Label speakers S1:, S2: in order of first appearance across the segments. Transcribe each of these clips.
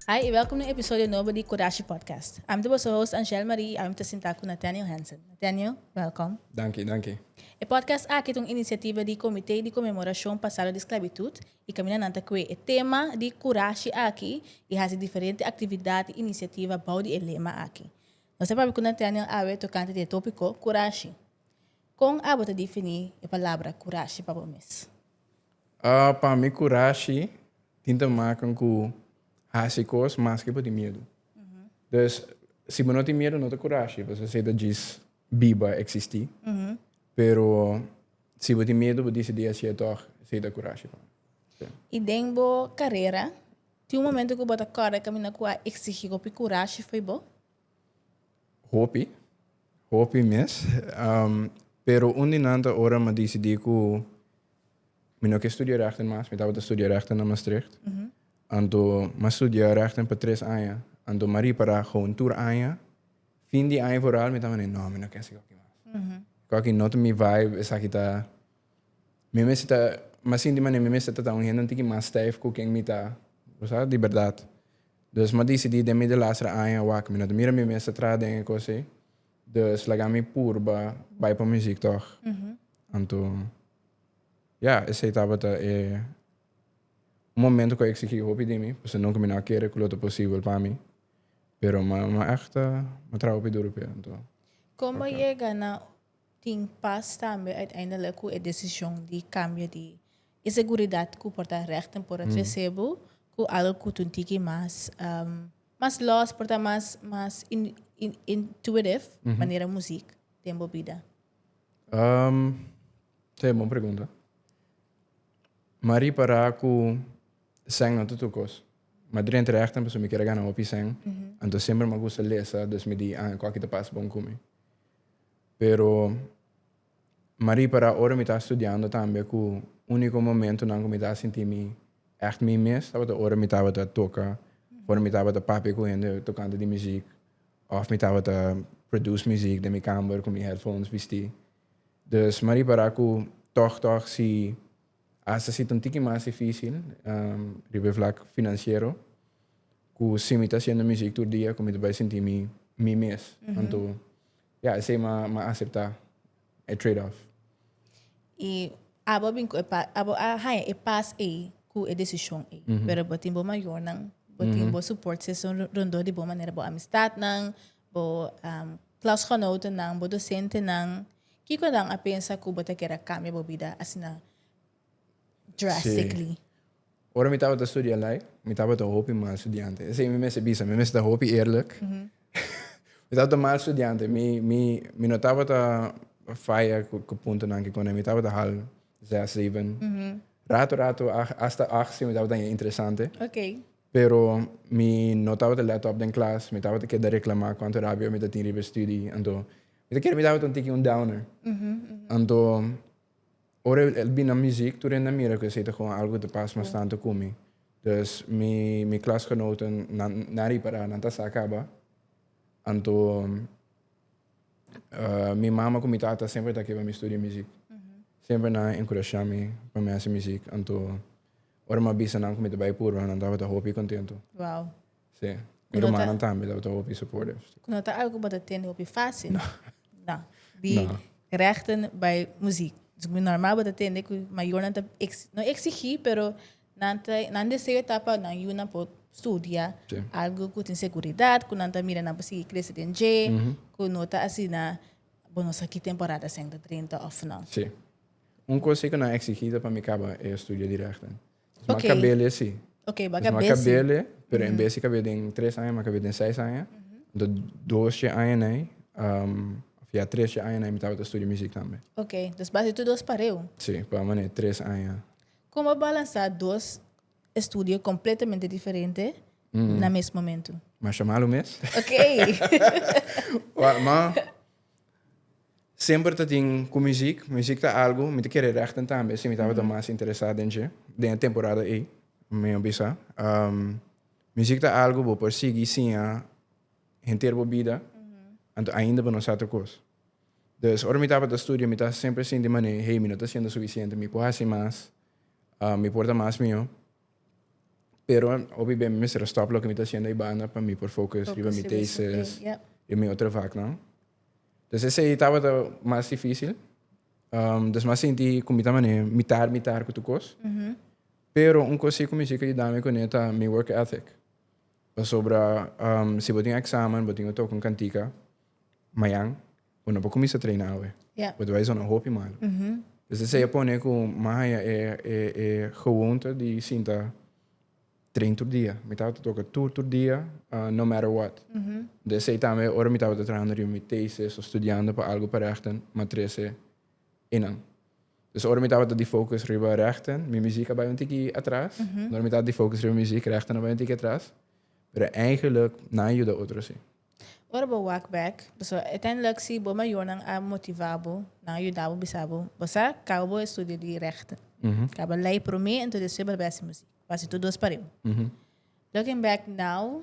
S1: Hi, i welkom na un episodio nobo di Kodashi Podcast. Ami ta boso host Angèle Marie i awin mi ta sinta ku Nathaniel Hansen. Nathaniel, welkom. Danki, danki. E podcast aki ta un inisiativa di Komité di Konmemorashon Pasado di Sklabitut i kaminda nan ta kue e tema di kurashi aki i hasi diferente aktividat i inisiativa bou di e lema aki. Nos a papia ku Nathaniel awe tokante di e topiko kurashi. Kon abo ta definí e palabra kurashi pa bo mes? Pa mi kurashi tin ta makan ku hasi kos maske bo tin miedu. Dus si bo no tin miedu no ta kurashi pasobra esei ta djis biba, eksistí. Pero si bo tin miedu bo disidí hasié tòg, esei ta kurashi pa mi. I den bo karera, tin un momentu ku bo ta kòrda kaminda ku a eksigí hopi kurashi fo'i bo? Hopi, hopi mes. Um, pero un di nan ta ora ma decidí ku mi no ke studia rechten mas, mi tabata studia rechten na Maastricht. Anto ma studia rechten pa tres aña, anto ma ripará houn tur aña. Fin di aña vooral mi ta mane, no, mi no ke esaki mas. Ku aki no ta mi vibe, esaki ta Mi mester ta, mi sinti manera mi mester ta ta un hende un tiki mas stijf cu ken mi ta, bo sa, di berdad. Dus mi a dicidi den mi delastra aña awak, mi no ta mira mi mester traha den e cos ei, dus laga mi purba bay pa muziek tog. Anto, ya, esey tabata e un momento cu a exigi hopi di mi, pasobra nunca mi no a kere cu lo ta posibel pa mi, pero mi a, mi a echt a traha hopi duro pa e. Anto. Como a yega na. Tin pas tambe uiteindelik ku e desishon di kambia di e seguridat ku por ta rèk den Port Arcebo ku algu ku ta un tiki mas mas lòs, por ta mas mas intuitiv manera muzik den bo bida? Ta e bon pregunta. Mi a ripará ku sèn no ta tur kos. Mi drenta rèk tempu so mi kier a gana hopi sèn. Anto semper mi a gusta lesa dus mi di, ah, e kòki ta pas bon ku mi. Pero Marie para ora mi ta studiando tambe cu unico momentonan cu mi ta sinti mi echt mi mes tabata ora mi tabata toca for mi tabata papia cu hende tocante di muziek of mi tabata produce muziek den mi kamer cu mi headphones bisti. Dus Marie para cu tog tog si. Asta si ta un tiki mas difícil riba e vlak finansiero, ku si mi ta hasiendo muziek tur dia ku mi ta bai sinti mi mi mes. Anto ya esei mi a aseptá e trade off. I abo a bin ku e pas, abo a haña e pas ei ku e desishon ei. Pero bo tin bo mayornan, bo tin bo support system rondó di bo, manera bo amistatnan, bo klasgenotennan, bo dosentenan. Kiko nan a pensa ku bo ta kere a kambia bo bida asina drastically? Sí. Ora mi tabata studia lei, mi tabata hopi mal studiante. Esei mi mester bisa, mi mester ta hopi eerlijk. mi tabata mal studiante. Mi, mi, mi no tabata faya ku, ku puntonan kiko nei. Mi tabata hal zes, zeben. Rato, rato hasta achtzi mi tabata haya interesante. Okay. Pero mi no tabata let op den klas. Mi tabata keda reklama kuantu rabia mi ta tin riba e studi. Anto Mi ta kere mi tabata un tiki un downer. Anto, ora el bin na muziek, tur hende a mira ku esei ta kon algu ku ta pas mas tantu ku mi. Dus mi mi klasgenoten, nan nan ripará, nan ta sa kaba. Anto, mi mama ku mi tata semper ta ke pa mi studia muziek. Semper nan a enkurashá mi pa mi hasi muziek. Anto, ora mi a bisa nan ku mi ta bai purba, nan tabata hopi kontentu. Sí. Mi rumannan tambe lo ta hopi supportive. Ku no ta algu ku bo ta tende hopi fásil. No. No. Di rechten bai muziek. Dus mi normal bo ta tende ku mayornan ta ex, no eksigí, pero nan ta, nan deseo ta pa nan yunan por studia Sí. algu ku tin seguridat, ku nan ta mira nan por sigui krese den dje, ku no ta asina bo no sa ki temporada esei ta drenta òf no. Sí. Un kos ei ku nan eksigí ta pa mi kaba e studio di rechten. Mas okay. cabele sí. Okay, mas cabele. Mas cabele, pero mm -hmm. en vez de cabele den tres años, mas cabele den seis años. Mm -hmm. Entonces, dos je años nee, um, via tres je años nee, me estaba estudiando muziek también. Okay, dus base tu dos pareu? Sí, pa mané tres años. Como balanza dos estudio completamente diferente mm -hmm. na mes momento? Mas chamalo mes. Okay. Wa, ma Semper ta tin ku muziek. Muziek ta algu mi ta kere rèkten tambe, si mi tabata mas interesá den dje, den e temporada ei, mi a bisa. muziek ta algu bo por sigui siña henter bo bida, anto ainda bo no sa tur kos. Dus, ora mi tabata studia mi ta semper sinti manera, hey, mi no ta hasiendo sufisiente, mi por hasi mas, mi por ta mas mihó. Pero hopi bem mester a stop loke mi ta hasiendo aibanda pa mi por focus Focus riba mi riba su thesis thing, yep. y mi otro vaknan. Dus esei tabata mas dificil. Um, dus mas sinti cu mi ta mane mitar mitar cu tur cos. Pero un cos si cu mi si cu a yudami cune ta mi work ethic. Pasobra um, si bo tin examen, bo tin cu toca un cantica mayan. Bo no por cuminsa traina awe. Yeah. Bo ta bai zona hopi malo. Mm -hmm. Dus te sea pone cu mahaya e, e, e gewoonte di sinta train tur dia. Mi taba te toca tur tur dia, uh, no matter what. Mm -hmm. De sei tambe, ora mi taba te trahando riba mi thesis o studiando pa algo pa rechten, ma trece enan. Dus ora mi taba te di focus riba rechten, mi muziek a bai un tiki atras. Mm -hmm. Ora mi taba te di focus riba muziek, rechten a bai un tiki atras. Pero eigenlijk, na yuda otro si. Ora bo wak bek, bo so e ten lek si bo mayornan a motiva bo, nan a yuda bo bisa bo, Bo sa, kaba bo e studio di Rechten. Kaba lei prome, anto despues bo a bes hasibo si. Bo hasi tur dos pareu. Looking back now,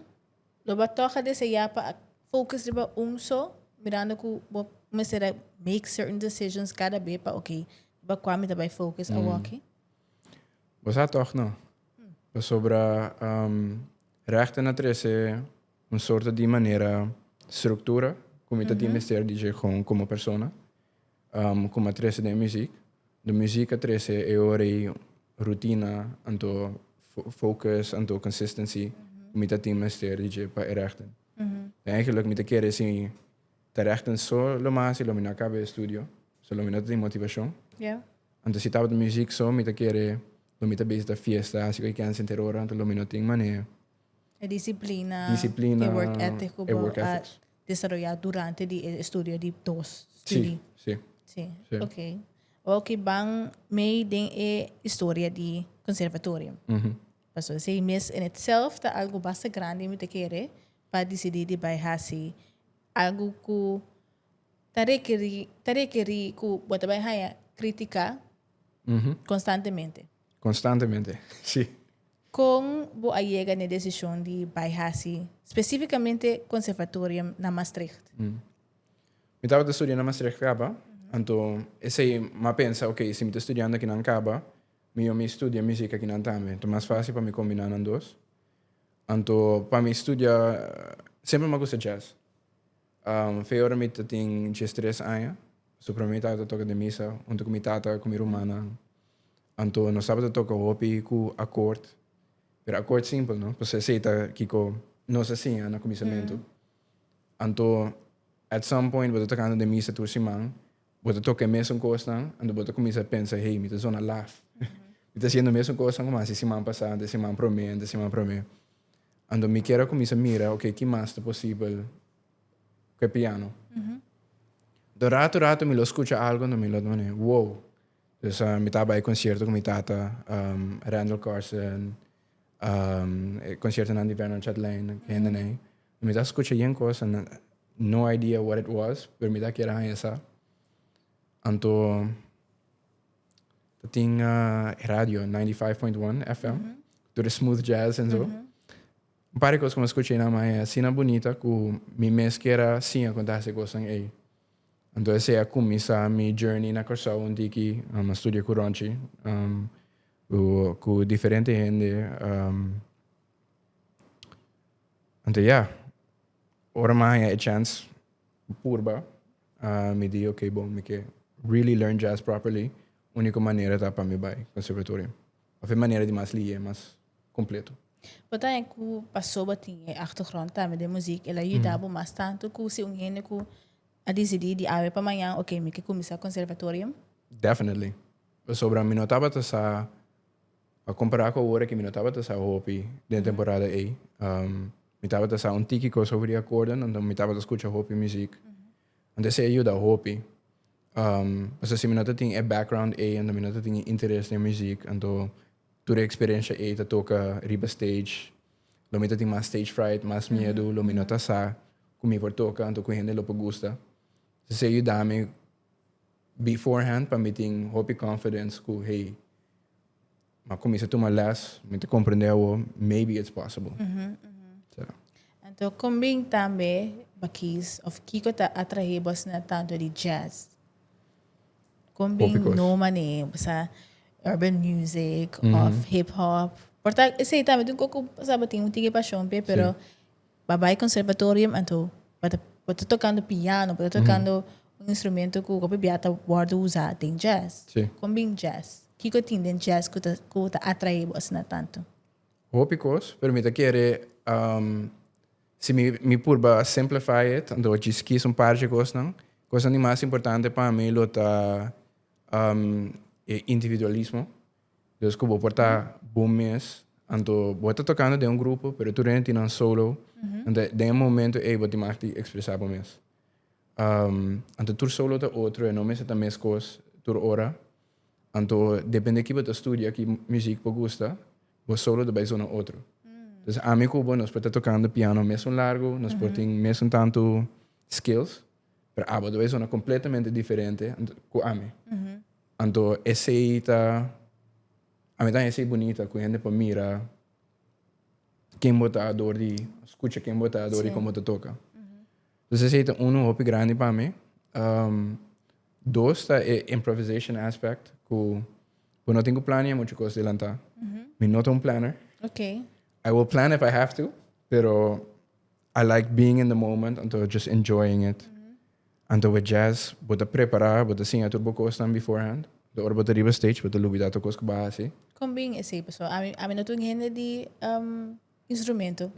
S1: lo bo a tog a desea pa a focus riba un so, mirando cu bo mester a make certain decisions cada be pa oke, riba cua mi ta bay focus awoki? Bo sa tog no. Pasobra Rechten a trece un sorto di manera struktura ku mi ta tin mester di dje kon komo persona, kuma trese den e muzik. Nto muzik a trese e ora ei rutina anto fokus anto consistency ku mi ta tin mester di dje pa e rèkten. Den aki loke mi ta kere si ta rèkten so lo mas i lo mi no a kaba e estudio, so lo mi no ta tin motivashon. Anto si tabata muzik so mi ta kere lo mi ta bisita fiesta hasi kualke kèn senter ora anto lo mi no tin manera. E disiplina, disiplina, e work ethic ku bo a desaroyá durante di e estudio di dos studie. Sí, sí. Sí, ok. Wou ki ban mei den e historia di conservatorium. Mm -hmm. Paso esei mes en itself ta algo basta grandi mi ta kere pa disidí di bai hasi algo ku ta rekerí ta rekerí ku bo ta bai haña kritika konstantemente. Mm -hmm. Konstantemente, sí. Kon bo a yega na e desishon di bai hasi spesífikamente Conservatorium na Maastricht? Mi tabata studia na Maastricht kaba, anto esei mi a pensa, oké, si mi ta studiando akinan kaba, mihó mi studia muziek akinan tambe. Ta mas fásil pa mi kombiná nan dos. Anto pa mi studia, semper mi a gusta jazz. Feora mi ta tin diestres aña. Su prome mi tata ta toka den misa huntu ku mi tata ku mi rumannan. Anto nos tabata toka hopi ku akort, pero akort simpel, no? Pasobra esei ta kiko nos a siña na kuminsamentu. Anto, at some point bo ta tokando den misa tur siman, Bo ta toka e mesun kosnan, anto bo ta kuminsá pensa, hey, mi ta zona laf. Mi ta hasiendo e mesun kosnan kuma hasi siman pasá, ante siman promé, ante siman promé. Anto mi kier a kuminsá mira, okay, ki mas ta posibel ku e piano? Nto ratu, ratu mi lo skucha algu, anto mi lo tabata manera, wow! Pues mi tabata bai e konsierto ku mi tata, Randall Carson, e konsiertonan di Bernard Chatelain, ku hendenan ei. Mi ta scucha yen cosa, no no idea what it was, pero mi ta kier haña sa. Anto ta tin ah, e radio 95.1 FM, tur e smooth jazz en zo. Un par de cosas como escucha na mae asina bonita cu mi mes kier a siña con ta hace cosnan ey. Anto esey a cuminsa mi journey na Curaçao un tiki, um, a studia cu Ronchi, um, cu, cu diferente hende, um, Anto ya, ora mi a haña e chance purba, uh, mi di, ok, bon, mi ke really learn jazz properly, único manera ta pa mi bai conservatorio. Of e manera di mas lihé, mas completo. Bo ta haña cu paso bo tin e achtergrond tambe den muziek, el a yuda bo mas tanto cu si un hende cu a dicidi di awe pa mañan, ok, mi ke cuminsa conservatorio? Definitely. Pasobra mi no tabata sa A compará cu awor aki mi no tabata sa hopi den temporada ey. Mi tabata sa un tiki cos over e acordeon, anto mi tabata scucha hopi muziek. Anto esey a yuda hopi. Pasobra si mi no ta tin e background ey, anto mi no ta tin e interes den muziek, anto tur e experencia ey ta toca riba stage. Lo mi ta tin mas stage fright, mas miedu, lo mi no ta sa cu mi por toca, anto cu hende lo por gusta. Esey a yuda mi before hand pa mi tin hopi confidence cu hey m'a comienza tuma les, mi ta comprende awo, maybe it's possible. Mm -hmm, mm -hmm. So. Entonces, con bien también, Bakis, of Kiko ta atrae vos na tanto de jazz. Con bien no mané, o sea, urban music, mm -hmm. of hip hop. Porta, ese también un coco, sabe, tiene un tique pasión, pero... Sí. Ba bai conservatorium anto ba ta ba ta tocando piano, ba ta tocando un instrumento cu hopi bia ta wordo usa den jazz. Sí. Con bin jazz? Kico e tin den jazz cu ta cu ta atraebo asina tanto? Hopi cos, pero mi ta kere um si mi mi purba simplify it anto a djis kies un parchi cosnan. Cosnan di mas importante pa mi lo ta um e individualismo Los cu bo por ta bo mes. Anto bo ta tocando den un grupo, pero tur hende tin nan solo. Anto den e momento ey bo tin maki di expresa bo mes. Um, anto tur solo ta otro, e no mester ta mes cos tur ora. Anto depende ki bo ta studia, ki muziek bo gusta, bo solo ta bay zona otro. Entonces ami cu bo nos por ta tocando piano mes un largo, nos por tin mes un tanto skills. pero abo ta bay sona completamente diferente cu ami. Anto esey ta, ami ta esey bunita cu hende por mira ken bo ta door di, scucha ken bo ta door di con bo ta toca. Entonces esey ta uno hopi grandi pa mi. Um, dos ta e improvisation aspect cu bo no tin cu plania mucho cos delanta. Mi no ta un planner. Okay. I will plan if I have to, pero I like being in the moment, anto just enjoying it. Anto with jazz, bo ta prepara, bo ta siña tur bo kosnan beforehand. De ora bo ta riba stage, bo ta lubida tur kos ku bo a hasi. Kon bin esei pasó? Ami, ami no ta un hende di um, instrumento.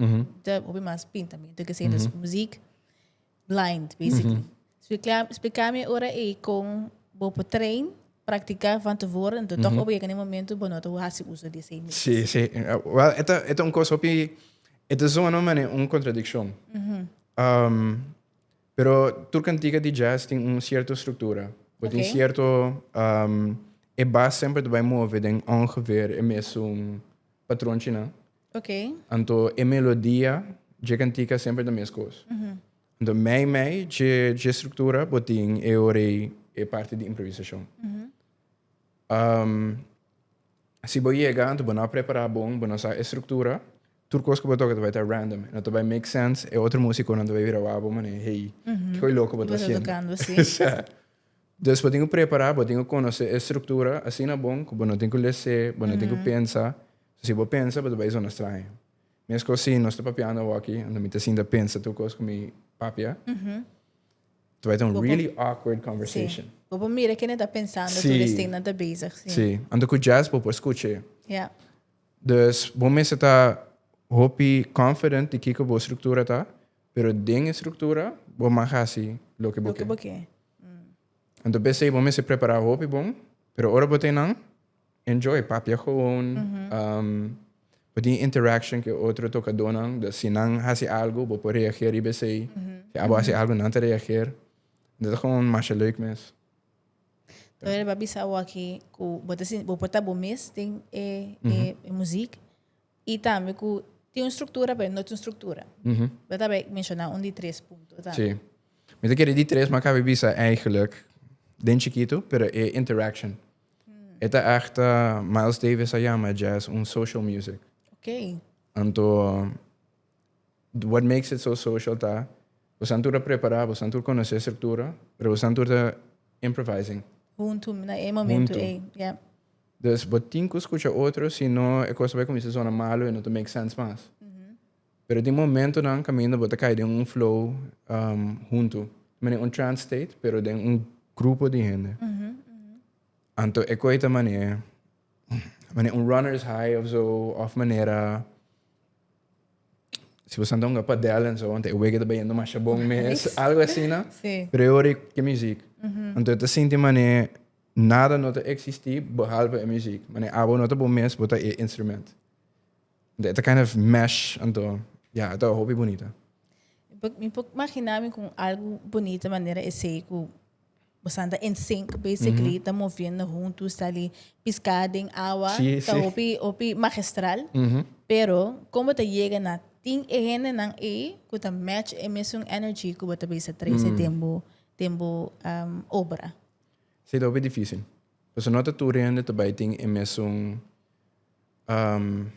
S1: Ta hopi mas pintamiento i ke esei. Entonces muziek blind basically. Spliká mi ora ei kon bo por train, praktiká van tevore, enton tòg ora yega na e momentu bo no ta hasi uso di esei mes. Sí, sí. Wèl, e ta, e ta un kos hopi, e ta zona un manera un kontradikshon. Pero tur kantika di jazz tin un sierto struktura. Bo tin sierto, e bas semper ta bai move den ongeveer e mesun patronchi nan. Anto e melodia dje kantika semper ta mes kos. Enton mei mei dje dje struktura bo tin e orei e parti di improvisashon. Am, si bo yega anto bo no a prepará bon, bo no sa e struktura, tur kos ku bo toka ta bai ta random, e no ta bai make sense, e otro músikonan ta bai bira wak bo manera, hey, kikoy loko bo ta Bo ta hasiendo? tokando así. Sa. Dus bo tin ku prepará, bo tin ku konosé e struktura asina bon ku bo no tin ku les'é, bo no tin ku pensa. Si bo pensa bo ta bai zona straña. Mescosí nos ta papiando awoki, anto mi ta sinta pensa tur cos cu mi papia. Ta bay ta un really awkward conversation. Sí. Bo por mira kende ta pensando tur esnan nan ta bezig. Sí. Sí. Anto cu jazz bo por scucha e. Ya. Dus bo mester ta hopi confident di kico bo structura ta, pero den e structura bo mag haci loke bo ke. Loke bo ke. Anto p'esei bo mester prepara hopi bon, pero ora bo ta e nan. Enjoy, papia gewoon. Bo tin interaction cu e otro tocadonan. Dus si nan haci algo, bo por reageer riba esey. Si abo haci algo, nan ta reageer. Dat ta gewoon masha leuk mes. Bo riba bisa awaki cu bo ta sinti, bo por ta bo mes den e muziek. Y tambe cu tin un structura pero no tin un structura. Bo ta bay menciona un di tres punto tambe. Si. Mi ta kere di tres, ma a caba bisa eigenlijk den chikito, pero e interaction. E ta echta, Miles Davis a yama e jazz un social music. Ok. Anto, what makes it so social ta, bosan tur a prepara, bosan tur conoce structura, pero bosan tur ta improvising. Hunto, na e momento Hunto. ey. Yeah. Dus bo tin cu scucha otro, si no e cos ta bay cuminsa zona malo y no ta make sense mas. Pero tin momentonan kaminda bo ta kai den un flow um, huntu. Mane un trance state, pero den un grupo di hende. Anto e koi ta mane, mane un runner's high of zo, of manera... Si bo santa hunga padel en zo, anto e wege ta bayendo masha bon mes, algo así, no? Sí. Pero yo hoor ke muziek. Anto ta sinti mane nada no ta existi behalve e muziek. Mane abo no ta bo mes, bo ta e instrument. It a kind of mesh anto ya yeah, it a hopi bunita. Mi por imagina mi con algo bonita manera esey cu bosan ta in sync basically, ta moviendo hunto sta ali pisca den awa, sí, ta sí. hopi hopi magistral. Mm -hmm. Pero como ta llega na tin e hendenan ey cu ta match e mesun energy cu bo ta bisa trece mm. den bo den bo um, obra. Sí, ta hopi difícil. Pues no ta tur hende ta bay tin e mesun um,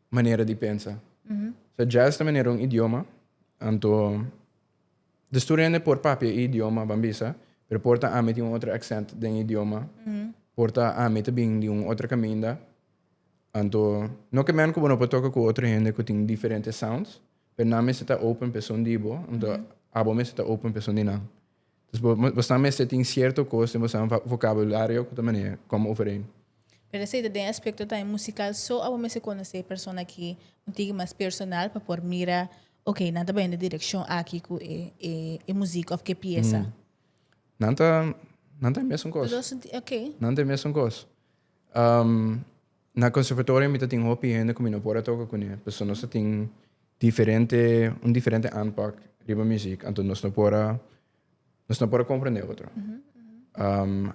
S1: manera di pensa. Mm -hmm. So jazz ta manera un idioma, anto de studente por papia e idioma bambisa, pero por ta ami tin un otro accent den idioma, mm -hmm. por ta ami te bin di un otro caminda, anto no que men como no por toca cu otro hende cu tin diferente sounds, pero na mi se ta open pe son dibo, anto mm -hmm. abo mi se ta open pe son di nan. Dus bo bo snan mester tin sierto kos den bosan vokabulario ku ta maneha kòm overeen. Pero esei ta den aspekto tambe musikal so a bo mester konosé e persona aki un tiki mas personal pa por mira ok nan ta baña den direkshon aki ku e e e muzik òf ku e piesa? Nan ta nan ta e mesun kos. Nan ta e mesun kos. Na conservatorio mi ta tin hopi hende cu mi no por a toca cune pasobra nos ta tin diferente, un diferente aanpak riba muziek anto nos no por a, nos no por a comprende otro.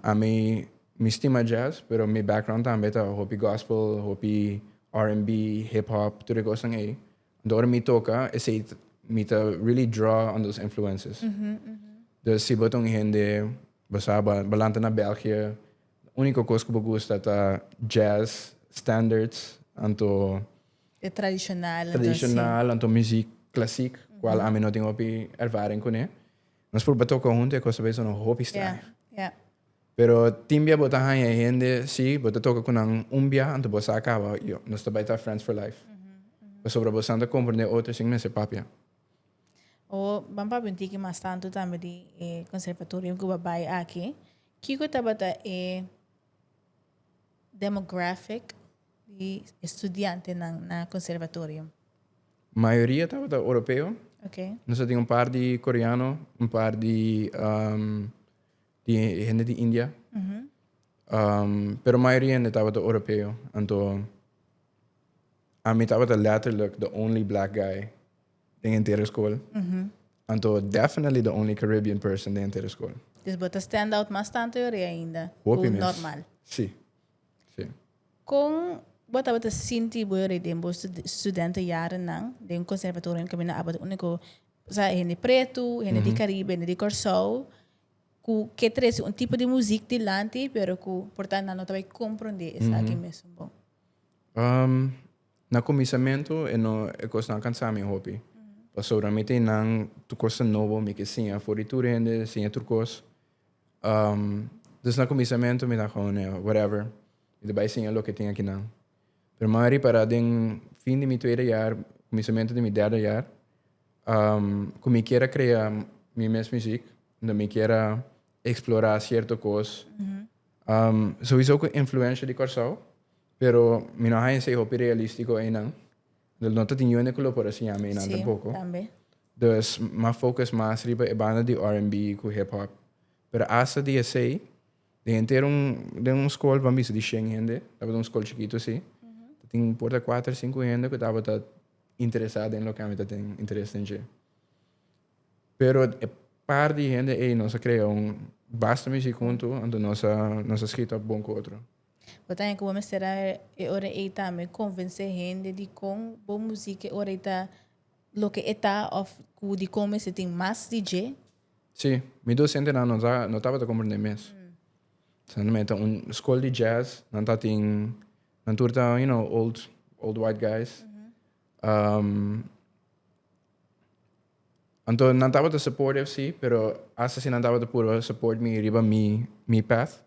S1: Ami, mi stima jazz pero mi background tambe ta hopi gospel, hopi RNB, hip hop, tur e cosnan ey. Anto ora mi toca esey ta, mi ta really draw on those influences. Dus si bo ta un hende, bo sa, bo a lanta na België. Unico cos cu bo gusta ta jazz, standards, anto. E tradicional anto así. Tradicional anto muziek classiek, cual ami no tin hopi ervaring cune. Nos proba toca hunto e cos ta bisa no hopi straño. Pero tin bia bo ta hanja e hende, si, bo ta toca cu nan un bia anto bo sa caba, yo, nos ta bay ta friends for life. Pasobra bo san ta comprende e otro sin mester papia. Bo ban papia un tiki mas tanto tambe di e conservatorio cu bo a bay aki. Kiko tabata e demographic di e studiantenan na conservatorio? Mayoria tabata Oropeo. Okay. Nos a tin un par di Koreano, un par di um, di hende di India. Um, pero mayoria hende tabata Oropeo. Anto, ami tabata letterlijk the only black guy. Den entero eskol? Anto definitely the only Caribbean person den entero eskol. Dus bo ta stand out mas tantu yori ainda Hopi ku mes. normal. Sí. Sí. Kon bo tabata sinti bo yori den bo stud- studentejarennan den conservatorionan ku mi no aba di úniko, òsèra hende pretu, hende di Caribe, hende di Kòrsou, ku ke trese un tipo di muzik dilanti pero ku por tanto nan no ta bai komprondé esaki mesun bo? Um, Na kuminsamentu e no e kosnan kansa mi hopi, pasobra mi tin nan tur kosnan nobo, mi ke siña for di tur hende, siña tur kos. Um, dus na kuminsamentu mi ta kon ne, whatever, mi ta bai siña loke tin aki nan. Pero mi a ripará den fin di mi tweede jaar, kuminsamentu di mi derde jaar, um, ku mi kier a krea mi mes muziek, unda mi kier a eksplorá sierto kos. Um, souiso ku influensha di Kòrsou, Pero mi no haña si e hopi realístiko einan. Lo no ta tin yende ku lo por a siña mi einan Sí, tampoko. tambe. Dus m'a focus mas riba e banda di R&B ku hip hop. Pero asta di esei, den henter un, den un skol ban bisa di shen hende, tabata un skol chikitu así, ta tin por ta kuater, sinku hende ku tabata interesá den loke ami ta tin interes den dje. Pero e par di hende ei nos a krea un basta muziek huntu, anto nos a, nos a skita bon ku otro. Bo ta haña ku bo mester a e ora ei tambe konvensé hende dikon bo músika e ora ei ta loke e ta òf ku dikon bo mester tin mas di dje. Sí, mi dos hendenan no ta no tabata komprendé mes. Esnan mei ta un skol di jazz, nan ta tin nan tur ta you know old old white guys. Anto nan tabata supportive si, pero hasta si nan tabata purba support mi riba mi mi path,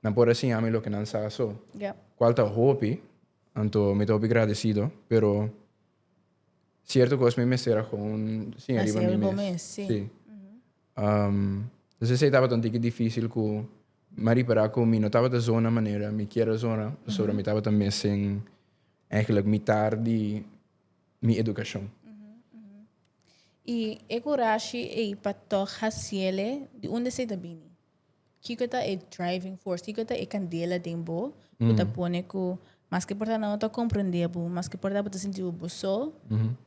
S1: nan por a siña mi loke nan sa so. Yep. Cual ta hopi, anto mi ta hopi gradecido, pero cierto cos mi mester a gewoon siña riba Hacia mi bo mes. mes, sí. Um, dus esei tabata un tiki difícil cu mi a repara cu mi no tabata zona manera mi kier a zona, pasobra mi tabata mes sin eigenlijk mitar di mi educacion. Y e curashi ey pa toch haciele, di unda esey ta bini? Kico ta e driving force? Kico ta e candela den bo cu ta pone cu maske por ta nan no ta comprende bo, maske por ta bo ta sinti bo bo so,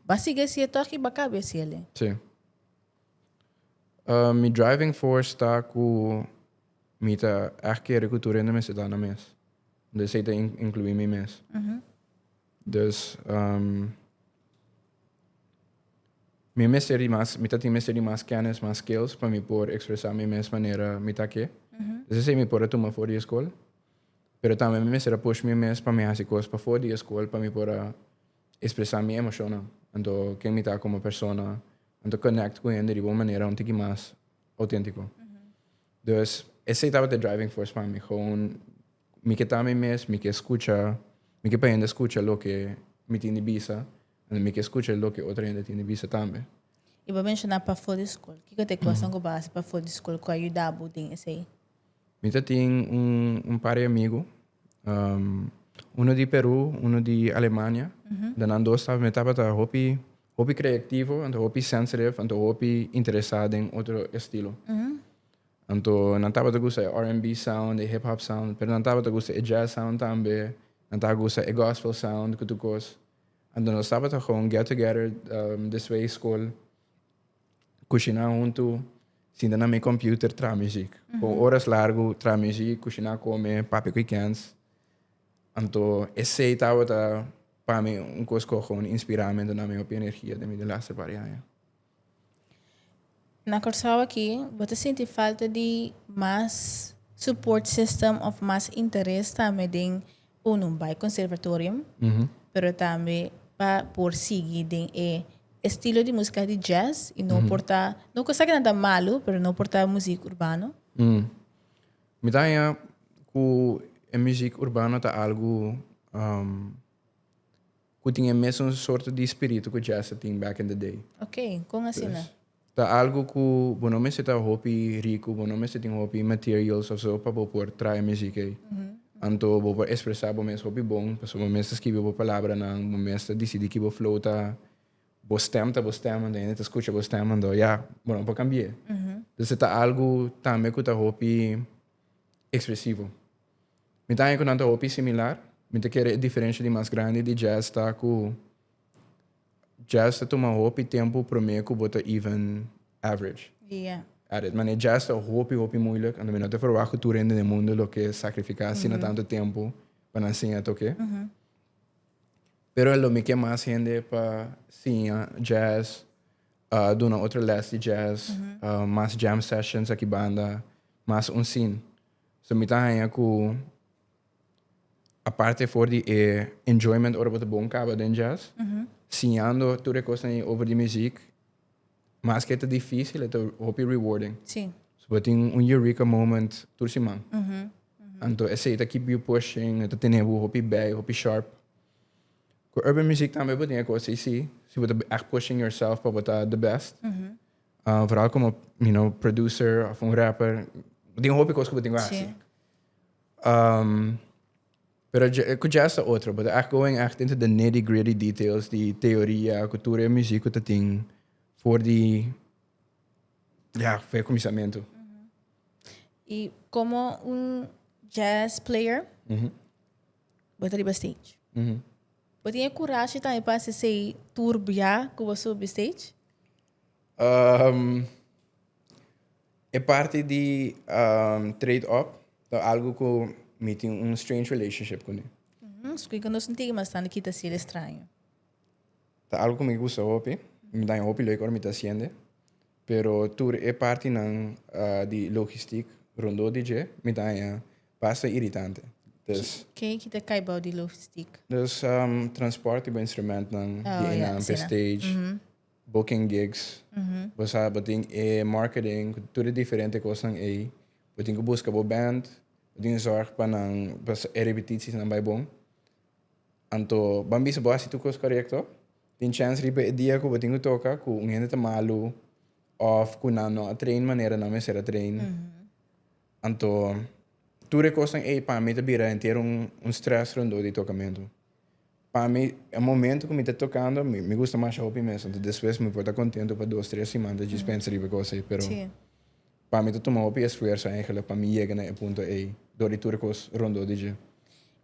S1: ba sigui haci e toch y ba cabe haciele? Si. Mi driving force ta cu mi ta echt kere cu tur hende mester da na mes. Unda esey ta inclui mi mes. Dus mi mester di mas, mi ta tin mester di mas kennis, mas skills pa mi por ekspresá mi mes manera mi ta ke. Dus esei mi por a tuma for di e skol. Pero tambe mi mester a push mi mes pa mi hasi kos pafó di e skol pa mi por a ekspresá mi emoshonnan, anto ken mi ta komo persona, anto konèkt ku hende riba un manera un tiki mas outéntiko. Dus esei tabata e driving force pa mi, gewoon. Mi ke ta mi mes, mi ke skucha, mi ke pa hende skucha loke mi tin di bisa, ende mi ke skucha loke otro hende tin di bisa tambe. Y bo a menshoná pafó di skol. Kiko ta e kosnan ku bo a hasi pafó di skol ku a yuda bo den esei? Mi ta tin un un par di amigu, uno di Perú, uno di Alemania. Den nan dos tabata mi tabata hopi hopi kreativo, anto hopi sensitive, anto hopi interesá den otro estilo. Anto nan tabata gusta e R&B sound, e hip hop sound, pero nan tabata gusta e jazz sound tambe, nan taha gusta e gospel sound cu tu cos. Anto nos tabata gewoon get together despues di school, cushina hunto, sinta na mi computer traha muziek. Por horas largo traha muziek, cushina, come, papia cu e kends. Anto esey tabata pa mi un cos cu a gewoon inspira mi, anto nan mi hopi energia den mi den laster par di aña. Na Kòrsou aki bo ta sinti falta di mas support system òf mas interes tambe den unu bai conservatorium pero tambe pa por sigui den e estilo di musika di jazz y no por ta no cu esaki nan ta malu pero no por ta muzik urbano. Mi ta haña cu e muzik urbano ta algu. Cu tin e mesun sorto di spiritu cu Jesse tin back in the day. Ok, con asina? Ta algo cu bo no mester ta hopi ricu, bo no mester tin hopi materials of so pa bo por traha e muziek ey. Anto bo por expresa bo mes hopi bon, pasobra bo mester skibi bo palabranan, bo mester dicidi ki bo flow ta, bo stem ta bo stem, anto e hende ta scucha bo stem, anto ya, bo no por cambie. Entonces ta algo tambe cu ta hopi expresivo. Mi ta haña ku nan ta hopi similar. Mi ta kere e diferensha di mas grandi di jazz ta ku jazz ta tuma hopi tempu promé ku bo ta even average. Yeah. At it. Mane jazz ta hopi, hopi muilik. Anto mi no ta verwagt ku tur hende den mundu lo ke sakrifiká asina tantu tempu pa nan siña tok'é. Pero lo mi ke mas hende pa siña jazz, duna otro lès di jazz, mas jam sessions akibanda, mas un sin. So mi ta haña ku aparte for di e enjoyment ora bo ta bon kaba den jazz, siñando tur e kosnan ei over di muziek, maske e ta difísil e ta hopi rewarding. Sí. So bo tin un eureka moment tur siman. Anto esei ta keep yu pushing, e ta tene bo hopi bij, hopi sharp. Ku urban muziek tambe bo tin e kos ei sí, si bo ta echt pushing yourself pa bo ta the best. Uh, vooral como, you know, producer of un rapper. Ding hopi cosas que tengo así. Um, pero cu jazz a otro, but echt going echt into the nitty gritty details, die theoria, cultura, muziek, dat ding, voor die, ja, voor het commissament. Mm -hmm. Y como un jazz player, mm -hmm. wat arriba stage. Mm -hmm. Wat tiene courage también para hacer tour bia, como subir stage? Um, e parti di um, trade up ta algo ku mi tin un strange relationship kuné. Mm, Squee con nos ntigi mas tandi kita si el extraño. Ta algo ku mi gusta hopi. Mi daña hopi lek ora mi ta hasiende. Pero tur e partinan ah, di logistiek rondó di dje mi daña basta iritante. Dus, Ken kita kai bou di logistiek? dus um, transporte bo instrumentnan Ah, di ja, einan p'e asina. stage. Mhm. booking gigs, bo sa bo tin e marketing ku tur e diferente kosnan ei. Bo tin ku buska bo band, bo tin zòrg pa nan pa e repetisinan bai bon. Anto ban bisa bo hasi tur kos korekto. Tin chèns riba e dia ku bo tin ku toka ku un hende ta malu òf ku nan no a train manera nan mester a train. Anto tur e kosnan ei pa mi ta bira henter un strès rondó di e tokamentu. Pa mi e momento cu mi ta tocando mi gusta masha hopi mes anto despues mi por ta contento pa dos tres siman ta djis pensa riba e cos ey pero pa mi ta tuma hopi esfuerso eindelijk pa mi yega na e punto ey dor di tur e cos rondo di dje.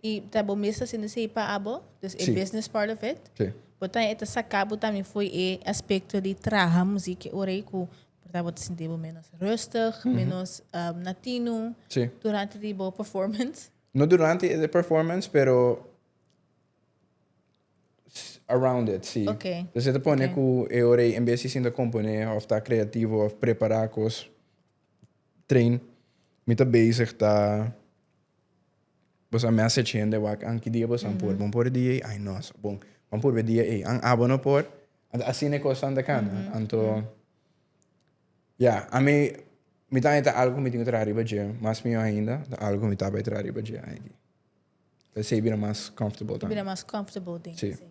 S1: Y ta bo mes ta haciendo esey pa abo? Dus e business part of it bo ta e ta saca bo tambe foe e aspecto di traha muzik e ora ey cu por ta bo ta sinti bo menos rustig menos natino durante di bo performance? No durante e performance, pero around it, si. Okay. Entonces te pone okay. cu e ora en vez de componer of ta creativo of preparar cos train, mi ta bezig ta bosa message hende wak an ki dia bosa mm -hmm. por, bon por dia ay no, bon, bon por dia ay, an abo no por, así ne cos tan de cana, mm -hmm. anto mm -hmm. Ya, ami, mi tambe ta algu ku mi tin ku traha riba dje, mas mihó ainda, ta algu ku mi ta bai traha riba dje aki. Esei bira mas comfortable tambe. Bira mas comfortable den Sí. esei.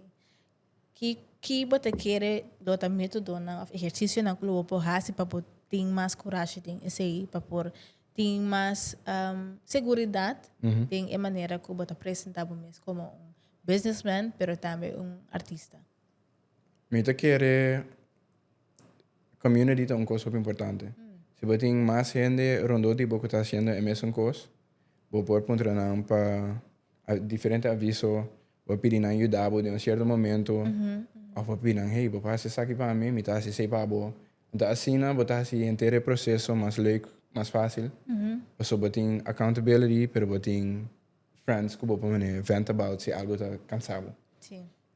S1: Ki ki bo ta kere lo ta metodonan of ehercisionan ku lo bo por hasi pa bo tin mas kurashi den esei, pa por tin mas am, seguridat den e manera ku bo ta presentá bo mes komo un businessman pero tambe un artista? Mi ta kere community ta un cos hopi importante. Si bo tin mas hende rondó di bo cu ta haciendo e mesun cos, bo por puntra nan pa diferente aviso, bo por pidi nan yuda bo den un cierto momento, of bo pidi nan, hey, bo por haci esaki pa mi, mi ta haci esey pa bo. Enton asina bo ta haci henter e proceso mas leuk, mas facil, pasobra bo tin accountability, pero bo tin friends cu bo por vent about si algo ta cansa bo.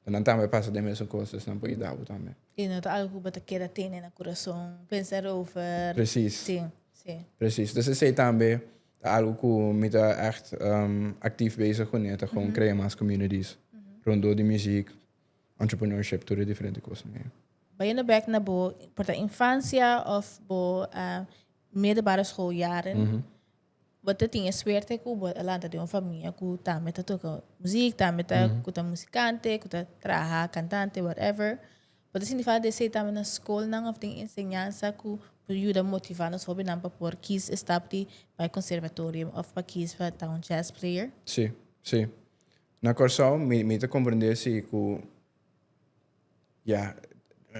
S1: Pa nan tambe pasa den mesun cos esnan por yuda bo tambe. Y no ta algo cu bo ta keda tene na curason, pensa erover. Precies. Sí, sí. Precies. Entonces esey tambe ta algo cu mi ta echt actief bezig cu ne, ta gewoon crea mas communities rondor di muziek, entrepreneurship, tur e diferente cosnan ey. Bayendo bek na bo, por ta infancia of bo middelbare school jaren, Bo ta tin e suerte ku bo a lanta den un famia ku tambe ta toka muzik, tambe ta ku ta musikante, ku ta traha kantante, whatever. Bo ta sinti falta di esei tambe na skolnan òf den enseñansa ku por yuda motivá nos hóbennan pa por kis e stap di bai konservatorio òf pa kis pa ta un jazz player? Sí, sí. Na Kòrsou mi, mi ta komprendé si ku. Ya,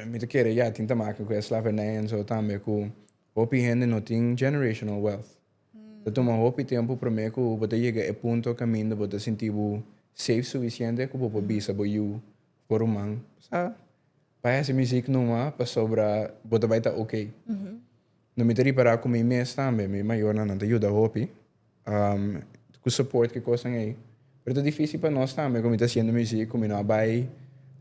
S1: mi ta kere ya tin ta make ku e slavenijens o tambe ku hopi hende no tin generational wealth. Ta tuma hopi tempu promé ku bo ta yega e punto kaminda bo ta sinti bo safe sufisiente ku bo por bisa bo yu bo ruman, Sa, pa hasi mi ziek numa pasobra bo ta bai ta oke. No mi ta ripará ku mi mes tambe, mi mayornan nan ta yuda hopi. Um, cu support cu cosnan ey. Pero ta difícil pa nos también, como está haciendo muziek, como no bay,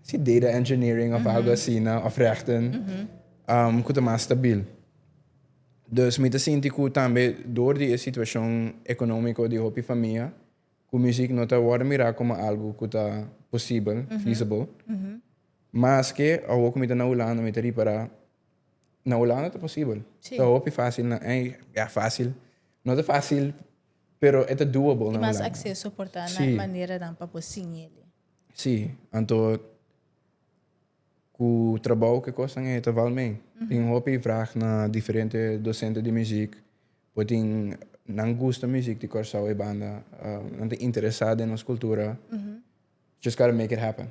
S1: si data engineering of algo así, na, of rechten, um, cu ta más stabil. Dus, mi ta sinti cu también door di e situacion economico di hopi famia, cu muziek no ta wordo mira como algo cu ta posibel, feasible. Maske, awo cu mi ta na Hulanda, mi ta ripara, Na Holanda ta posibel. Sí. Ta hopi fácil na ei, ja fácil. No ta fácil, pero e ta doable na Holanda. Mas acceso por ta na sí. manera dan pa bo sin ele. Sí, anto cu trabou que cosnan e ta val mee. Mm -hmm. Tin hopi vraag na diferente docente di muziek. Bo tin nan gusta muziek di Curaçao e banda. Uh, nan ta interesa den nos cultura. Mm -hmm. Just gotta make it happen.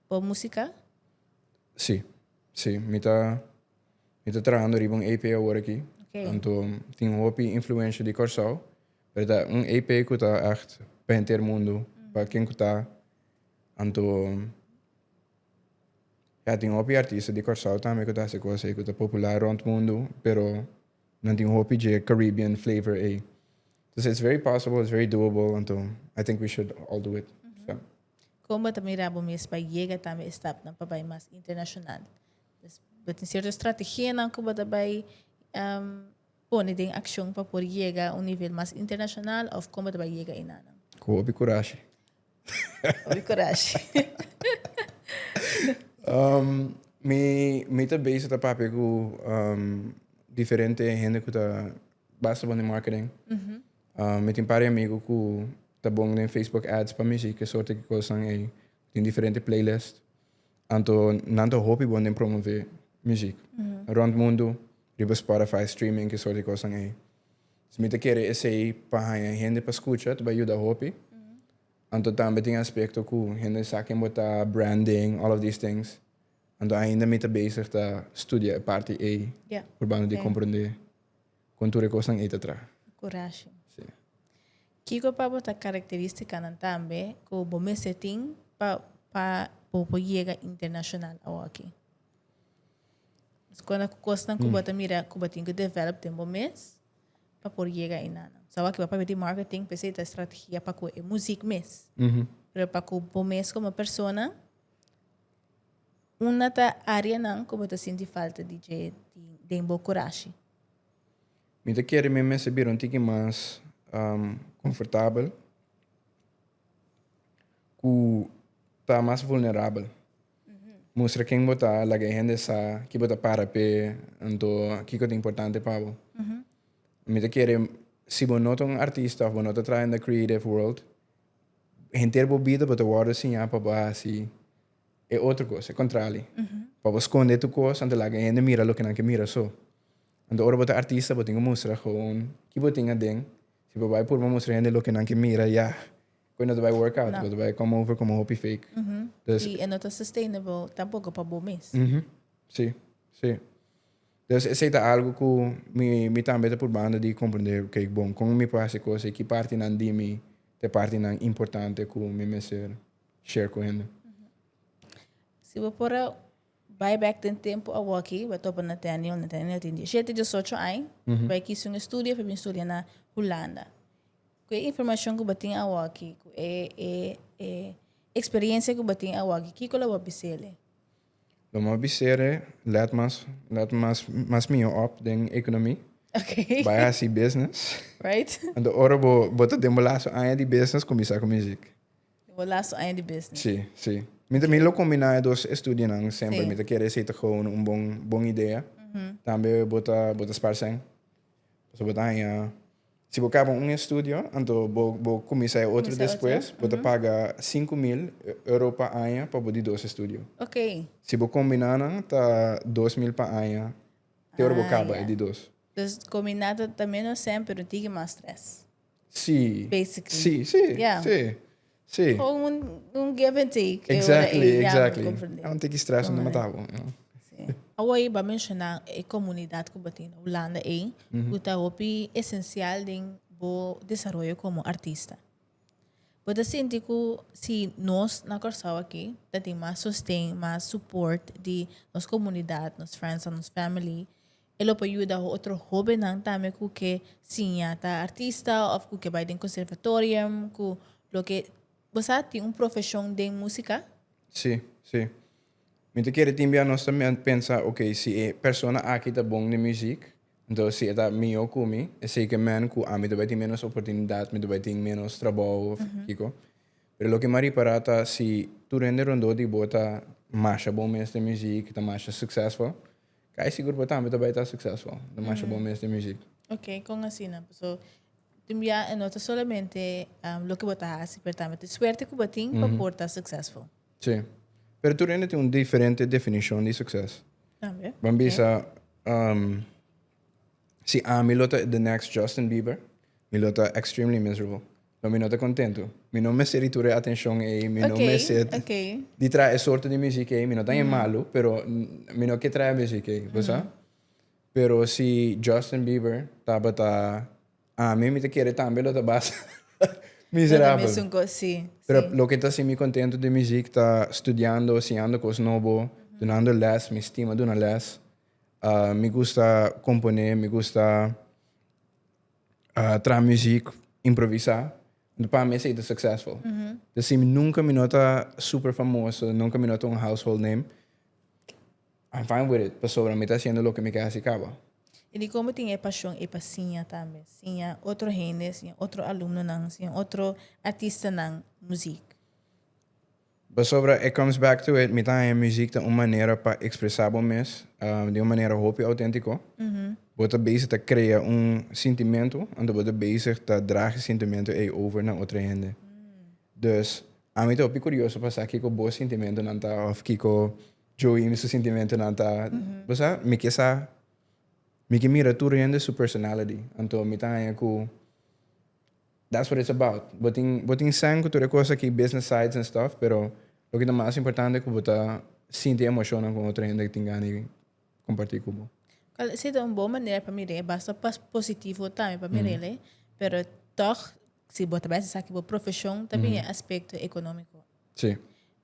S1: Bo músika? Sí. Sí. Mi ta, mi ta trahando riba un EP awor aki. Ok. Anto tin hopi influensha di Kòrsou. Pero ta un EP ku ta ègt pa henter mundu, pa ken ku ta. Anto, ya, tin hopi artista di Kòrsou tambe ku ta hasi kos ei ku ta popular rònt mundu, pero nan tin hopi dje Caribbean flavor ei. Entonces it's very possible, it's very doable, anto I think we should all do it. Kon bo ta mira bo mes pa yega tambe e stapnan pa bai mas internashonal? Bo tin sierto strategianan ku bo ta bai pone den akshon pa por yega un nivel mas internashonal òf kon bo ta bai yega enanan? Ku hopi kurashi. Hopi kurashi. Mi ta beisha ta papia ku diferente hende ku ta basta bo den marketing. Mi tin pare amigu ku ta bon den Facebook Ads pa mi si ke sorte di kosnan ei. Mi tin diferente playlist. Anto nan ta hopi bon den promove muzik rònt mundu riba Spotify, streaming, ke sorte di kosnan ei. Si mi ta kere esei pa haña hende pa skucha ta bai yuda hopi. Anto tambe tin aspekto ku hende sa ken bo ta, branding, all of these things. Anto ainda mi ta bezig ta studia e parti ei purbando di komprondé. Con tur e cosnan ey ta traha. Curashi. Sí. Kico pa bo ta caracteristicanan tambe cu bo mester tin pa pa bo por yega internacional awoki? Escona cu cosnan cu bo ta mira cu bo tin cu develop den bo mes pa por yega eyna'nan? Sa awoki bo papia di marketing pesey ta estrategia pa cu e muziek mes. Pero pa cu bo mes como persona. Unda ta áreanan ku bo ta sinti falta di dje den bo kurashi? Mi ta kere mi mester bira un tiki mas komfortabel ku ta mas vulnerabel. Mustra ken bo ta, laga e hende sa ke bo ta para p'e anto kiko ta importante pa bo. Mi ta kere si bo no ta un artista òf bo no ta traha den creative world, henter bo bida bo ta wòrdu siñá pa bo hasi. E otro cos, e contrali. Pa bo sconde tu cos anto laga e hende mira loke nan ke mira so. Anto ora bo ta artista bo tin cu mustra gewoon ki bo tin aden. Si bo bay purba mustra hende loke nan ke mira, ya, cu e no ta bay work out, bo ta bay come over como hopi fake. Dus. Y e no ta sustainable tampoco pa bo mes. Uhm, si, si. Dus esey ta algo cu mi, mi tambe ta purbando di comprende, ok, bon, con mi por haci cos y ki partinan di mi ta e partinan importante cu mi mester. share ku hende. Si bo por a bai bek den tempu awoki, bo a topa Nathaniel. Nathaniel tin diecisiete, diesocho aña. Bo a kisi un estudio pa bin studia na Hulanda. Ku e informashon ku bo tin awoki, ku e eksperensia ku bo tin awoki, kiko lo bo a bis'e? Lo mi a bis'e, let mas, let mas, mas mihó òp den ekonomi. Bai hasi business. Anto ora bo, bo ta den bo lastu aña di business, kuminsá ku muzik. Bo laat su aña di business. Sí, sí. Mi ta mi lo combina e dos estudionan semper. Sí. Mi ta kere si ta gou un bon, bon idea. Tambe bo ta, bo ta spars'en. Pasobra bo ta haña, si bo kaba un estudio, anto bo, bo kuminsá e otro despues, bo ta paga sinku mil euro pa aña pa bo di dos estudio. Ok. Si bo kombiná nan, ta dos mil pa aña, te ora bo Ah, kaba ya. e di dos. Dus kombiná ta, ta ménos semper, no tiki mas strès. Sí. Basically. Sí, sí, yeah. sí. Sí. Gewoon un, un give and take. Eh, exactly, eh, exactly. Ja, me ah, take stress no matabo. Sí. Awa iba mencionar e comunidad que batin Holanda e, mm -hmm. uta hopi esencial den bo desarrollo como artista. Bota sinti ku si nos na Curaçao aqui, ta tem mais sostém, mais support de nos comunidade, nos friends, nos family, E lo por yuda otro hóbennan tambe ku ke siña ta artista òf ku ke bai den konservatorium ku loke. Bo sa tin un profeshon den músika? Sí, sí. Mi ta kere tin bia nos ta pensa, Okey, si e persona aki ta bon den muziek, entonces si e ta mihó ku mi, e sekermente ku ami ta bai tin ménos oportunidat, mi ta bai tin ménos trabou òf kiko. Pero loke mi a ripará ta si tur hende rondó di bo ta masha bon mes den muziek, ta masha suksèsful, Ka e sigur bo tambe ta bai ta suksesful, no masha bon mes den muzik. Ok, kon asina? Paso tin bia e no ta solamente loke bo ta hasi, pero tambe ta e suerte ku bo tin pa por ta suksesful. Sí. Pero tur hende tin un diferente definishon di sukses. Tambe. Ban bisa, si ami lo ta the next Justin Bieber, mi lo ta extremely miserable. No mi no ta contentu. Mi no mester di tur e atencion ey, mi no mester di trae e sorto di muziek ey. Mi no ta e malu, pero mi no ke trae e muziek ey, bo sa. Pero si Justin Bieber tabata ami, mi ta kere tambe lo ta basa miserabel. Pero loke ta haci mi contentu di muziek ta studiando, siñando cos nobo, dunando les. Mi stima duna les. mi gusta compone, mi gusta. traha muziek, improvisá. Pa mi esei ta successful. Te si mi nunca mi no ta super famoso, nunca mi no ta un household name, I'm fine with it, pasobra mi ta haciendo loke mi ke haci caba. Y di como tin e pasion ey pa siña tambe? Siña otro hende, siña otro alumnonan, siña otro artistanan muziek. Pasobra e comes back to it, mi ta haña muziek ta un manera pa ekspresá bo mes di un manera hopi outéntiko. Bo ta bezig ta krea un sintimentu, anto bo ta bezig ta drag e sintimentu ei over na otro hende. Dus, ami ta hopi kurioso pa sa kiko bo sintimentunan ta òf kiko Joey su sintimentunan ta. Bo sa, mi ke sa, mi ke mira tur hende su personality. Anto mi ta haña ku That's what it's about. Bo tin bo tin sèn ku tur e kos aki business sides and stuff, pero loke ta mas importante ku bo ta sinti emoshonnan ku otro hende tin gana di kompartí ku bo. Kual ta ser un bon manera pa mira? E basta pa positivo tambe pa mira el, pero tòg si bo ta bai esaki bo profeshon ta bin e aspekto ekonómiko. Sí.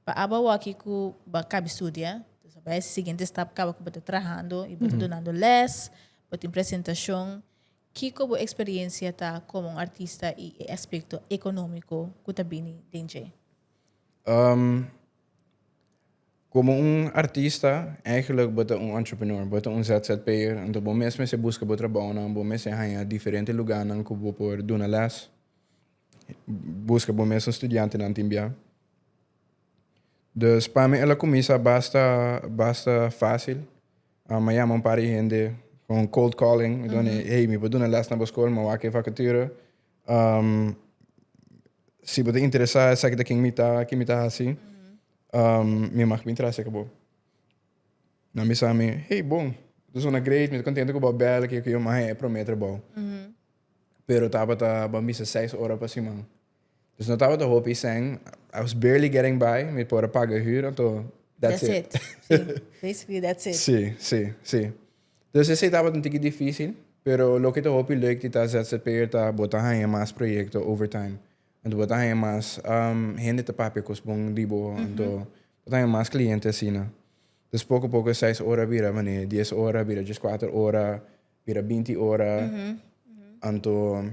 S1: Pa aba awor aki ku bo a kaba studia, entonces a bai e siguiente stap kaba ku bo ta trahando i bo ta dunando lès, bo tin presentashon. Kiko bo eksperiencia ta komo un artista i e aspekto ekonomiko ku ta bini den dje? Um, komo un artista, eigenlijk bo ta un entrepreneur, bo ta un ZZP'er, anto bo mes mester buska bo trabounan, bo mester haña diferente lugánan ku bo por duna lès, buska bo mes un studiantenan tin bia. Dus pa mi el a kuminsá basta basta fásil. Uh, mi a yama un par di hende con un cold calling. Mi done, hey, mi por duna les na bo school, mi a wak e vacature. Um, si bo ta interesa, esaki ta kin mi ta, kin mi ta hasi. Um, mi mag bin trase ka bo. Na mi sa mi, hey, bon. Tu sona great, mi ta contento cu bo a bel, ke yo ke yo, ma he, e promete bo. Pero tabata, bo a misa seis ora pa siman. Dus no tabata hopi sèn. I was barely getting by. Mi por a paga e hür, anto that's it. That's it. Sí. Basically that's it. Sí, sí, sí. Dus esei tabata un tiki difísil, pero loke ta hopi lèk di ta ZZP'er ta bo ta haña mas proyekto over time. Anto bo ta haña mas um hende ta papia kos bon di bo, anto bo ta haña mas kliente asina. Dus poko poko e seis ora a bira manera di dies ora, a bira djeskuater ora, bira binti ora. Anto.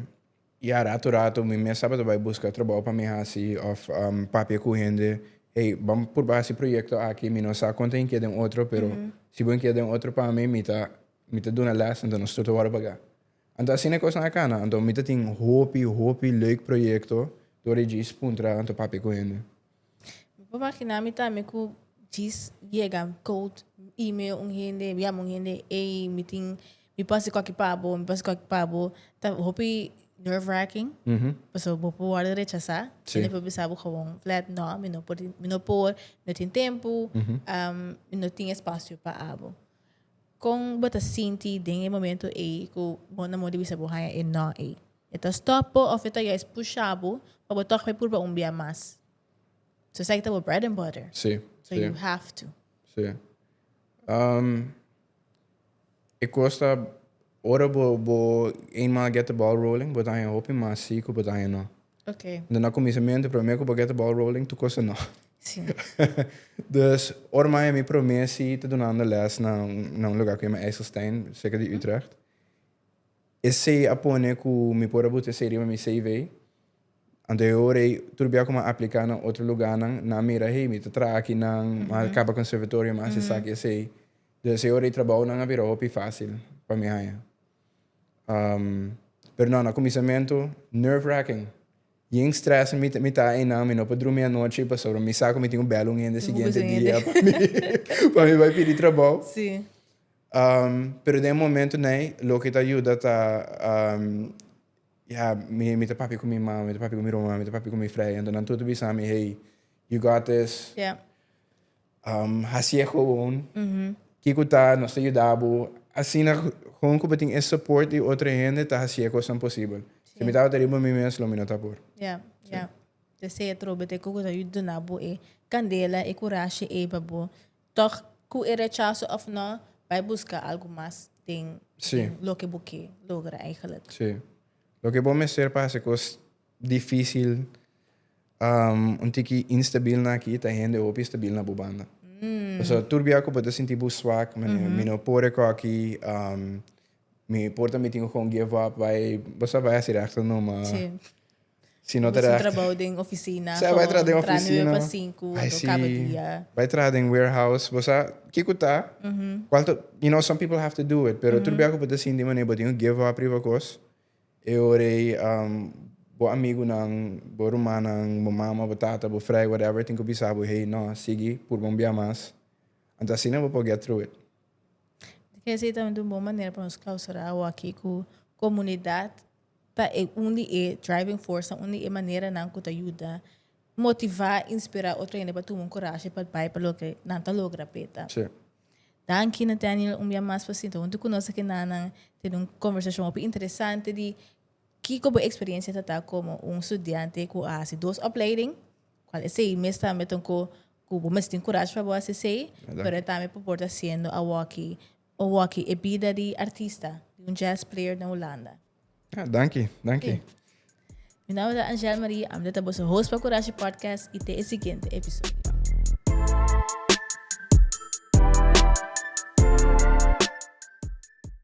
S1: Ya ratu ratu mi mes tabata bai buska trabou pa mi hasi of papia cu hende, hey bam purba hasi proyecto aki, mi no sa con ta hinkey den otro pero si bo hinkey den otro pa mi mi ta mi ta duna les anto nos tur ta wordo paga. Anto asina e cosnan a cana, anto mi ta tin hopi hopi leuk proyecto door e djis puntra anto papia cu hende. Mi por imaginá mi tambe ku djis yega koud, email un hende, mi yama un hende ey mi tin mi por hasi kualke pa bo, mi por hasi kualke pa bo. Ta hopi nerve wracking pasobra bo por wòrdu rechasá. Sí. Hende por bisa bo gewoon flat nò, mi no por, mi no por, mi no tin tempu, mi no tin espacio pa abo. Kon bo ta sinti den e momento ei ku bo na mor di bisa bo haña e nò ei? E ta stop bo of e ta juist pusha bo pa bo toch por purba un bia mas. So esaki ta bo bread and butter. Sí, So sí, you have to. sí. Ehm, e kos ta, ora bo, bo eenmaal get the ball rolling, bo ta haña hopi mas sí ku bo ta haña no. Ok. Dor na kuminsamentu, promé ku bo get the ball rolling, tur kos ta no. Sí. Dus, ora mi a haña mi promé sí ta dunando lès na un, na un lugá ku yama IJsselstein, serka di Utrecht. Esey a pone cu mi por a buta esey riba mi CV. Anto e ora ey, tur bia cu mi a aplica na otro luganan, nan a mira, hey, mi ta traha aki nan, mi a caba conservatorio, mi a haci esaki, esey. Entonces e ora ey trabounan a bira hopi facil pa mi haya. Pero no, na cuminsamentu, nerve-wracking. Bien stress mi, mi ta eynan, mi no por drumi anochi pasobra mi sa cu mi tin un bel un hende siguiente dia pa mi, pa mi bay pidi trabou. Pero den e momento n'ey loke ta yuda ta ya mi ta papia cu mi mama, mi ta papia cu mi roma, mi ta papia cu mi freya, enton nan tur ta bisami hey you got this, haci'e gewoon, kico ta nos ta yudabo, asina gewoon cu bo tin e support di otro hende ta haci'e cosnan posibel, si mi tabata riba mi mes lo mi no ta por. Te se'e trobe te cu cu ta duna bo e candela, e curashi ey pa bo. Tog cu e rechazo of no, bay busca algo mas den loke bo ke logra eigenlijk. Sí. Loke bo mester pa haci cos dificil un tiki instabil na aki ta hende hopi stabil na bo banda. Pasobra tur bia cu bo ta sinti bo swak, mi no por e cos aki, mi por ta mitin cu con give up, bay, bo sa bay haci reacto no, ma. Si no ta Busca recht. trabajo den oficina. Sa bai traha den Tra nueve oficina. pa cinco Ai to si, cabo dia. bai traha den warehouse. Bo sa ke ku ta? Kual ta, you know, some people have to do it. Pero tur bia ku bo ta sinti manera bo tin ku give up riba kos, e ora ei um bo amigunan, bo rumannan, bo mama, bo tata, bo frei, whatever, tin ku bisa bo, hey, no, sigui, purba un bia mas. Anto asina bo por get through it. Esei tambe ta un bon manera pa nos clausura awo aki ku comunidad. Ta e un di e driving force, ta un di e maneranan cu ta yuda motiva, inspira otro hende pa tuma un coraje pa bai pa loke nan ta logra p'e ta. Sí. Danki Nathaniel un bia mas pa sinta huntu cu nos aki nannan, tene un conversacion hopi interesante di kico bo experiencia ta ta como un studiante cu a haci dos opleiding, cual esey mes tambe ta un cu cu bo mes tin coraje pa bo haci esey, Verdad. pero e tambe por por ta haciendo awor aki O waki e bida di artista di un jazz player na Hulanda. Ah, danki, danki. Mi nome ta Angel Marie, amde ta boso host pa Kurashi Podcast y te e siguiente episodio.